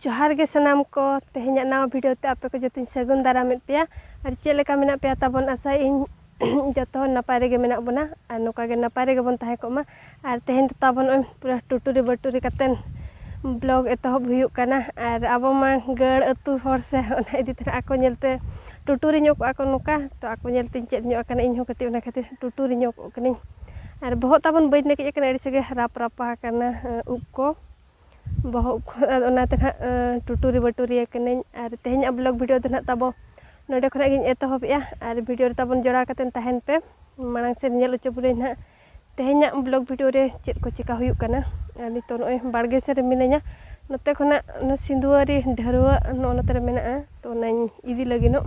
ᱡᱚᱦᱟᱨ ᱜᱮ ᱥᱟᱱᱟᱢ ᱠᱚ ᱛᱮᱦᱮᱧᱟᱜ ᱱᱟᱣᱟ ᱵᱷᱤᱰᱤᱭᱳ ᱛᱮ ᱟᱯᱮ ᱠᱚ ᱡᱚᱛᱚᱧ ᱥᱟᱹᱜᱩᱱ ᱫᱟᱨᱟᱢᱮᱫ ᱯᱮᱭᱟ ᱟᱨ ᱪᱮᱫ ᱞᱮᱠᱟ ᱢᱮᱱᱟᱜ ᱯᱮᱭᱟ ᱛᱟᱵᱚᱱ ᱟᱥᱟᱭ ᱤᱧ ᱡᱚᱛᱚ ᱦᱚᱲ ᱱᱟᱯᱟᱭ ᱨᱮᱜᱮ ᱢᱮᱱᱟᱜ ᱵᱚᱱᱟ ᱟᱨ ᱱᱚᱝᱠᱟ ᱜᱮ ᱱᱟᱯᱟᱭ ᱨᱮᱜᱮ ᱵᱚᱱ ᱛᱟᱦᱮᱸ ᱠᱚᱜ ᱢᱟ ᱟᱨ ᱛᱮᱦᱮᱧ ᱫᱚ ᱛᱟᱵᱚᱱ ᱱᱚᱜᱼᱚᱭ ᱯᱩᱨᱟᱹ ᱴᱩᱴᱩᱨᱤ ᱵᱟᱹᱴᱩᱨᱤ ᱠᱟᱛᱮᱱ ᱵᱞᱚᱜᱽ ᱮᱛᱚᱦᱚᱵ ᱦᱩᱭᱩᱜ ᱠᱟᱱᱟ ᱟᱨ ᱟᱵᱚ ᱢᱟ ᱜᱟᱹᱲ ᱟᱹᱛᱩ ᱦᱚᱲ ᱥᱮ ᱚᱱᱟ ᱤᱫᱤ ᱛᱮ ᱟᱠᱚ ᱧᱮᱞ ᱛᱮ ᱴᱩᱴᱩᱨᱤ ᱧᱚᱜ ᱠᱚᱜᱼᱟ ᱠᱚ ᱱᱚᱝᱠᱟ ᱛᱚ ᱟᱠᱚ ᱧᱮᱞ ᱛᱤᱧ ᱪᱮᱫ ᱧᱚᱜ ᱟᱠᱟᱱᱟ ᱤᱧ ᱦᱚᱸ ᱠᱟᱹᱴᱤᱡ ᱚᱱᱟ ᱠᱷᱟᱹᱛᱤᱨ ᱴᱩᱴᱩᱨᱤ ᱧᱚᱜᱚᱜ ᱠᱟᱹᱱᱟᱹᱧ ᱟᱨ ᱵᱚᱦᱚᱜ ᱛᱟᱵᱚᱱ ᱵᱟᱹᱧ ᱱᱟᱹᱠᱤᱡ ᱟᱠᱟᱱᱟ ᱟᱹᱰᱤ ᱥᱟᱸᱜᱮ ᱨᱟᱯ ᱨᱟᱯᱟ ᱟᱠᱟᱱᱟ ᱩᱵ ᱠᱚ ᱵᱚᱦᱚᱜ ᱠᱚ ᱟᱫᱚ ᱚᱱᱟᱛᱮ ᱱᱟᱦᱟᱜ ᱴᱩᱴᱩᱨᱤ ᱵᱟᱹᱴᱩᱨᱤ ᱟᱠᱟᱱᱟᱹᱧ ᱟᱨ ᱛᱮᱦᱮᱧᱟᱜ ᱵᱞᱚᱜᱽ ᱵᱷᱤᱰᱭᱳ ᱫᱚ ᱱᱟᱦᱟᱜ ᱛᱟᱵᱚ ᱱᱚᱰᱮ ᱠᱷᱚᱱᱟᱜ ᱜᱤᱧ ᱮᱛᱚᱦᱚᱵᱮᱜᱼᱟ ᱟᱨ ᱵᱷᱤᱰᱭᱳ ᱨᱮ ᱛᱟᱵᱚᱱ ᱡᱚᱲᱟᱣ ᱠᱟᱛᱮᱫ ᱛᱟᱦᱮᱱ ᱯᱮ ᱢᱟᱲᱟᱝ ᱥᱮᱫ ᱧᱮᱞ ᱦᱚᱪᱚ ᱵᱚᱱᱟᱹᱧ ᱱᱟᱦᱟᱜ ᱛᱮᱦᱮᱧᱟᱜ ᱵᱞᱚᱜᱽ ᱵᱷᱤᱰᱭᱳ ᱨᱮ ᱪᱮᱫ ᱠᱚ ᱪᱤᱠᱟᱹ ᱦᱩᱭᱩᱜ ᱠᱟᱱᱟ ᱟᱨ ᱱᱤᱛᱚᱜ ᱱᱚᱜᱼᱚᱭ ᱵᱟᱲᱜᱮ ᱥᱮᱫ ᱨᱮ ᱢᱤᱱᱟᱹᱧᱟ ᱱᱚᱛᱮ ᱠᱷᱚᱱᱟᱜ ᱥᱤᱸᱫᱷᱩᱣᱟᱹᱨᱤ ᱰᱷᱟᱹᱨᱣᱟᱹᱜ ᱱᱚᱜᱼᱚ ᱱᱚᱛᱮ ᱨᱮ ᱢᱮᱱᱟᱜᱼᱟ ᱛᱚ ᱚᱱᱟᱧ ᱤᱫᱤ ᱞᱟᱹᱜᱤᱫᱚᱜ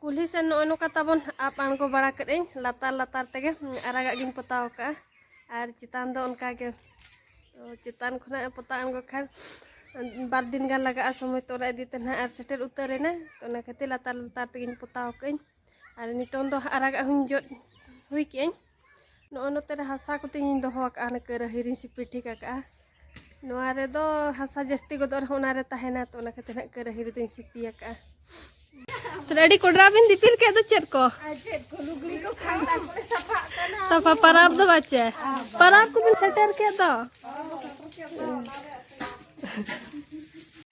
ᱠᱩᱞᱦᱤ ᱥᱮᱱ ᱱᱚᱜᱼᱚᱭ ᱱᱚᱝᱠᱟ ᱛᱟᱵᱚᱱ ᱟᱯ ᱟᱬᱜᱚ ᱵᱟᱲᱟ ᱠᱮᱫ ᱟᱹᱧ ᱞᱟᱛᱟᱨ ᱞᱟᱛᱟᱨ ᱛᱮᱜᱮ ᱟᱨᱟᱜᱟᱜ ᱜᱤᱧ ᱯᱚᱛᱟᱣ ᱠᱟᱜᱼᱟ ᱟᱨ ᱪᱮᱛᱟᱱ ᱫᱚ ᱚᱱᱠᱟ ᱜᱮ ᱛᱚ ᱪᱮᱛᱟᱱ ᱠᱷᱚᱱᱟᱜ ᱯᱚᱛᱟᱣ ᱟᱬᱜᱚ ᱠᱷᱟᱱ ᱵᱟᱨ ᱫᱤᱱ ᱜᱟᱱ ᱞᱟᱜᱟᱜᱼᱟ ᱥᱚᱢᱚᱭ ᱛᱚ ᱚᱱᱟ ᱤᱫᱤ ᱛᱮ ᱱᱟᱦᱟᱜ ᱟᱨ ᱥᱮᱴᱮᱨ ᱩᱛᱟᱹᱨ ᱮᱱᱟ ᱛᱚ ᱚᱱᱟ ᱠᱷᱟᱹᱛᱤᱨ ᱞᱟᱛᱟᱨ ᱞᱟᱛᱟᱨ ᱛᱮᱜᱮᱧ ᱯᱚᱛᱟᱣ ᱠᱟᱜ ᱟᱹᱧ ᱟᱨ ᱱᱤᱛᱚᱝ ᱫᱚ ᱟᱨᱟᱜᱟᱜ ᱦᱚᱸᱧ ᱡᱚᱫ ᱦᱩᱭ ᱠᱮᱜ ᱟᱹᱧ ᱱᱚᱜᱼᱚ ᱱᱚᱛᱮ ᱨᱮ ᱦᱟᱥᱟ ᱠᱚᱛᱤᱧ ᱫᱚᱦᱚ ᱟᱠᱟᱫᱼᱟ ᱚᱱᱟ ᱠᱟᱹᱨᱟᱹᱦᱤ ᱨᱤᱧ ᱥᱤᱯᱤ ᱴᱷᱤᱠ ᱟᱠᱟᱫᱼᱟ ᱱᱚᱣᱟ ᱨᱮᱫᱚ ᱦᱟᱥᱟ ᱡᱟᱹᱥᱛᱤ ᱜᱚᱫᱚᱜ ᱨᱮᱦᱚᱸ ᱚᱱᱟᱨᱮ ᱛᱟᱦᱮᱱᱟ ᱛᱚ ᱚᱱᱟ ᱠᱷᱟᱹᱛᱤᱨ ᱦᱟᱸᱜ ᱠᱟᱹᱨᱟᱹᱦᱤ ᱨᱮᱫᱚᱧ ᱥᱤᱯᱤ ᱟᱠᱟᱫᱼᱟ ᱛᱟᱦᱞᱮ ᱟᱹᱰᱤ ᱠᱚᱰᱨᱟ ᱵᱤᱱ ᱫᱤᱯᱤᱞ ᱠᱮᱫ ᱫᱚ ᱪᱮᱫ ᱠᱚ ᱥᱟᱯᱷᱟ ᱯᱟᱨᱟᱵᱽ ᱫᱚ ᱵᱟᱪᱮ ᱯᱟᱨᱟᱵᱽ ᱠᱚᱵᱤᱱ ᱥᱮᱴᱮᱨ ᱠᱮᱫ ᱫᱚ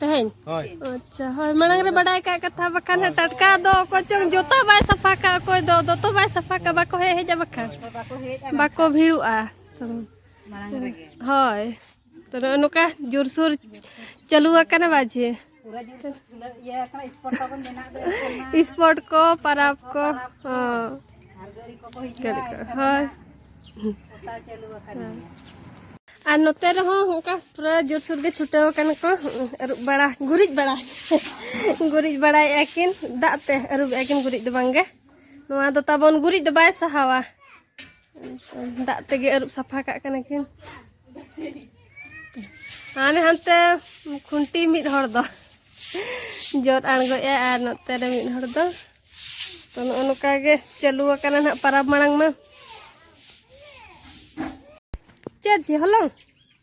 ᱛᱮᱦᱮᱧ ᱟᱪᱪᱷᱟ ᱦᱳᱭ ᱢᱟᱲᱟᱝ ᱨᱮ ᱵᱟᱰᱟᱭ ᱠᱟᱜ ᱠᱟᱛᱷᱟ ᱵᱟᱠᱷᱟᱱ ᱴᱟᱴᱠᱟ ᱫᱚ ᱚᱠᱚᱭ ᱪᱚᱝ ᱡᱚᱛᱚ ᱵᱟᱭ ᱥᱟᱯᱷᱟ ᱠᱟᱜ ᱚᱠᱚᱭ ᱫᱚ ᱫᱚᱛᱚ ᱵᱟᱭ ᱥᱟᱯᱷᱟ ᱠᱟᱜ ᱵᱟᱠᱚ ᱦᱮᱡ ᱦᱮᱡᱟ ᱵᱟᱠᱷᱟᱱ ᱵᱟᱠᱚ ᱵᱷᱤᱲᱩᱜᱼᱟ ᱦᱳᱭ ᱛᱚ ᱱᱚᱜᱼᱚ ᱱᱚᱝᱠᱟ ᱡᱳᱨᱥᱳᱨ ᱪᱟᱹᱞᱩ ᱟᱠᱟᱱᱟ ᱵᱟᱡᱮ ᱥᱯᱚᱴ ᱠᱚ ᱯᱟᱨᱟᱵᱽ ᱠᱚ ᱦᱳᱭ ᱟᱨ ᱱᱚᱛᱮ ᱨᱮᱦᱚᱸ ᱚᱱᱠᱟ ᱯᱩᱨᱟᱹ ᱡᱳᱨᱥᱳᱨ ᱜᱮ ᱪᱷᱩᱴᱟᱹᱣ ᱟᱠᱟᱱᱟ ᱠᱚ ᱟᱹᱨᱩᱵ ᱵᱟᱲᱟ ᱜᱩᱨᱤᱡ ᱵᱟᱲᱟ ᱜᱩᱨᱤᱡ ᱵᱟᱲᱟᱭᱮᱫᱼᱟ ᱠᱤᱱ ᱫᱟᱜ ᱛᱮ ᱟᱹᱨᱩᱵᱮᱫᱼᱟ ᱠᱤᱱ ᱜᱩᱨᱤᱡ ᱫᱚ ᱵᱟᱝᱜᱮ ᱱᱚᱣᱟ ᱫᱚ ᱛᱟᱵᱚᱱ ᱜᱩᱨᱤᱡ ᱫᱚ ᱵᱟᱭ ᱥᱟᱦᱟᱣᱟ ᱫᱟᱜ ᱛᱮᱜᱮ ᱟᱹᱨᱩᱵ ᱥᱟᱯᱷᱟ ᱠᱟᱜ ᱠᱟᱱᱟ ᱠᱤᱱ ᱦᱟᱱᱮ ᱦᱟᱱᱛᱮ ᱠᱷᱩᱱᱴᱤ ᱢᱤᱫ ᱦᱚᱲ ᱫᱚ ᱡᱚᱫ ᱟᱬᱜᱚᱭᱮᱜᱼᱟ ᱟᱨ ᱱᱚᱛᱮ ᱨᱮ ᱢᱤᱫ ᱦᱚᱲ ᱫᱚ ᱛᱚ ᱱᱚᱜᱼᱚ ᱱᱚᱝᱠᱟ ᱜᱮ ᱪᱟᱹᱞᱩ ᱟᱠᱟᱱᱟ ᱱᱟᱜ ᱯᱟᱨᱟᱵᱽ ᱢᱟᱲᱟᱝ ᱢᱟ ᱪᱮᱫ ᱦᱚᱞᱚᱝ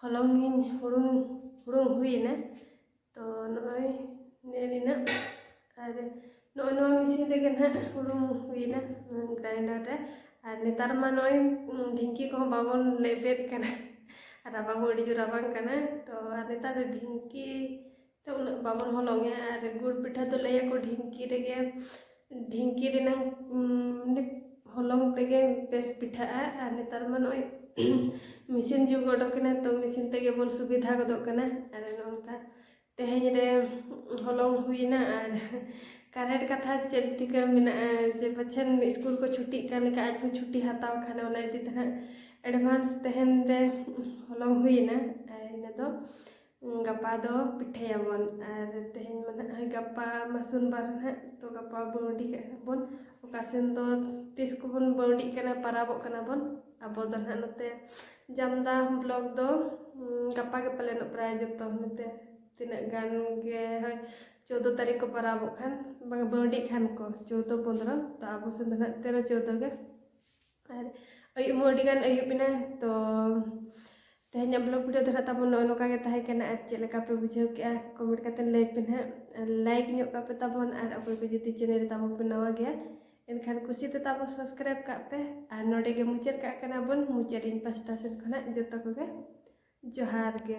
ᱦᱚᱞᱚᱝ ᱤᱧ ᱦᱩᱲᱩᱝ ᱦᱩᱲᱩᱝ ᱦᱩᱭᱮᱱᱟ ᱛᱚ ᱱᱚᱜᱼᱚᱭ ᱱᱮᱞᱮᱱᱟ ᱟᱨ ᱱᱚᱜᱼᱚᱭ ᱱᱚᱣᱟ ᱢᱮᱥᱤᱱ ᱨᱮᱜᱮ ᱱᱟᱦᱟᱜ ᱦᱩᱲᱩᱝ ᱦᱩᱭᱮᱱᱟ ᱜᱨᱟᱭᱱᱰᱟᱨ ᱨᱮ ᱟᱨ ᱱᱮᱛᱟᱨ ᱢᱟ ᱱᱚᱜᱼᱚᱭ ᱰᱷᱤᱝᱠᱤ ᱠᱚᱦᱚᱸ ᱵᱟᱵᱚᱱ ᱞᱮᱵᱮᱫ ᱠᱟᱱᱟ ᱨᱟᱵᱟᱝ ᱦᱚᱸ ᱟᱹᱰᱤ ᱡᱳᱨ ᱨᱟᱵᱟᱝ ᱠᱟᱱᱟ ᱛᱚ ᱟᱨ ᱱᱮᱛᱟᱨ ᱫᱚ ᱰᱷᱤᱝᱠᱤ ᱛᱚ ᱩᱱᱟᱹᱜ ᱵᱟᱵᱚᱱ ᱦᱚᱞᱚᱝᱮ ᱟᱨ ᱜᱩᱲ ᱯᱤᱴᱷᱟᱹ ᱫᱚ ᱞᱟᱹᱭᱟᱠᱚ ᱰᱷᱤᱝᱠᱤ ᱨᱮᱜᱮ ᱰᱷᱤᱝᱠᱤ ᱨᱮᱱᱟᱝ ᱦᱚᱞᱚᱝ ᱛᱮᱜᱮ ᱵᱮᱥ ᱯᱤᱴᱷᱟᱹᱜᱼᱟ ᱟᱨ ᱱᱮᱛᱟᱨ ᱢᱟ ᱱᱚᱜᱼᱚᱭ ᱢᱮᱥᱤᱱ ᱡᱩᱜᱽ ᱚᱰᱚᱠᱮᱱᱟ ᱛᱚ ᱢᱮᱥᱤᱱ ᱛᱮᱜᱮ ᱵᱚᱱ ᱥᱩᱵᱤᱫᱷᱟ ᱜᱚᱫᱚᱜ ᱠᱟᱱᱟ ᱟᱨ ᱱᱚᱝᱠᱟ ᱛᱮᱦᱮᱧ ᱨᱮ ᱦᱚᱞᱚᱝ ᱦᱩᱭᱱᱟ ᱟᱨ ᱠᱟᱨᱮᱱᱴ ᱠᱟᱛᱷᱟ ᱪᱮᱫ ᱴᱷᱤᱠᱟᱹ ᱢᱮᱱᱟᱜᱼᱟ ᱡᱮ ᱯᱟᱪᱷᱮᱱ ᱥᱠᱩᱞ ᱠᱚ ᱪᱷᱩᱴᱤᱜ ᱠᱟᱱ ᱞᱮᱠᱟ ᱟᱡ ᱦᱚᱸ ᱪᱷᱩᱴᱤ ᱦᱟᱛᱟᱣ ᱠᱷᱟᱱ ᱚᱱᱟ ᱤᱫᱤ ᱛᱮ ᱦᱟᱸᱜ ᱮᱰᱵᱷᱟᱱᱥ ᱛᱮᱦᱮᱧ ᱨᱮ ᱦᱚᱞᱚᱝ ᱦᱩᱭᱱᱟ ᱟᱨ ᱤᱱᱟᱹ ᱫᱚ ᱜᱟᱯᱟ ᱫᱚ ᱯᱤᱴᱷᱟᱹᱭᱟᱵᱚᱱ ᱟᱨ ᱛᱮᱦᱮᱧ ᱢᱟ ᱱᱟᱦᱟᱜ ᱜᱟᱯᱟ ᱢᱟ ᱥᱳᱢᱵᱟᱨ ᱱᱟᱦᱟᱜ ᱛᱚ ᱜᱟᱯᱟ ᱵᱟᱹᱣᱰᱤ ᱠᱟᱜ ᱵᱚᱱ ᱚᱠᱟ ᱥᱮᱱ ᱫᱚ ᱛᱤᱥ ᱠᱚᱵᱚᱱ ᱵᱟᱹᱣᱰᱤᱜ ᱠᱟᱱᱟ ᱯᱟᱨᱟᱵᱚᱜ ᱠᱟᱱᱟ ᱵᱚᱱ ᱟᱵᱚ ᱫᱚ ᱱᱟᱦᱟᱜ ᱱᱚᱛᱮ ᱡᱟᱢᱫᱟ ᱵᱞᱚᱠ ᱫᱚ ᱜᱟᱯᱟ ᱜᱮ ᱯᱟᱞᱮᱱᱚᱜ ᱯᱨᱟᱭ ᱡᱚᱛᱚ ᱱᱚᱛᱮ ᱛᱤᱱᱟᱹᱜ ᱜᱟᱱ ᱜᱮ ᱦᱳᱭ ᱪᱳᱫᱫᱳ ᱛᱟᱹᱨᱤᱠᱷ ᱠᱚ ᱯᱟᱨᱟᱵᱚᱜ ᱠᱷᱟᱱ ᱵᱟᱝ ᱵᱟᱹᱣᱰᱤᱜ ᱠᱷᱟᱱ ᱠᱚ ᱪᱳᱫᱫᱳ ᱯᱚᱸᱫᱽᱨᱚ ᱛᱚ ᱟᱵᱚ ᱥᱮᱱ ᱫᱚ ᱱᱟᱦᱟᱜ ᱛᱮᱨᱚ ᱪᱳᱫᱫᱳ ᱜᱮ ᱟᱨ ᱟᱹᱭᱩᱵ ᱦᱚᱸ ᱟᱹᱰᱤ ᱜᱟᱱ ᱟᱹᱭᱩᱵ ᱮᱱᱟ ᱛᱚ ᱛᱮᱦᱮᱧᱟᱜ ᱵᱞᱚᱜ ᱵᱷᱤᱰᱤᱭᱳ ᱫᱚ ᱱᱟᱜ ᱛᱟᱵᱚᱱ ᱱᱚᱜᱼᱚᱭ ᱱᱚᱝᱠᱟ ᱜᱮ ᱛᱟᱦᱮᱸ ᱠᱟᱱᱟ ᱟᱨ ᱪᱮᱫ ᱞᱮᱠᱟ ᱯᱮ ᱵᱩᱡᱷᱟᱹᱣ ᱠᱮᱜᱼᱟ ᱠᱚᱢᱮᱱᱴ ᱠᱟᱛᱮ ᱞᱟᱹᱭ ᱯᱮ ᱱᱟᱦᱟᱜ ᱟᱨ ᱞᱟᱭᱤᱠ ᱧᱚᱜ ᱠᱟᱜ ᱯᱮ ᱛᱟᱵᱚᱱ ᱟᱨ ᱚᱠᱚᱭ ᱠᱚ ᱡᱩᱫᱤ ᱪᱮᱱᱮᱞ ᱨᱮ ᱛᱟᱵᱚᱱ ᱯᱮ ᱱᱟᱣᱟ ᱜᱮᱭᱟ ᱮᱱᱠᱷᱟᱱ ᱠᱩᱥᱤ ᱛᱮ ᱛᱟᱵᱚᱱ ᱥᱟᱵᱥᱠᱨᱟᱭᱤᱵ ᱠᱟᱜ ᱯᱮ ᱟᱨ ᱱᱚᱰᱮ ᱜᱮ ᱢᱩᱪᱟᱹᱫ ᱠᱟᱜ ᱠᱟᱱᱟ ᱵᱚᱱ ᱢᱩᱪᱟᱹᱫ ᱤᱧ ᱯᱟᱥᱴᱟ ᱥᱮᱫ ᱠᱷᱚᱱᱟᱜ ᱡᱚᱛᱚ ᱠᱚᱜᱮ ᱡᱚᱦᱟᱨ ᱜᱮ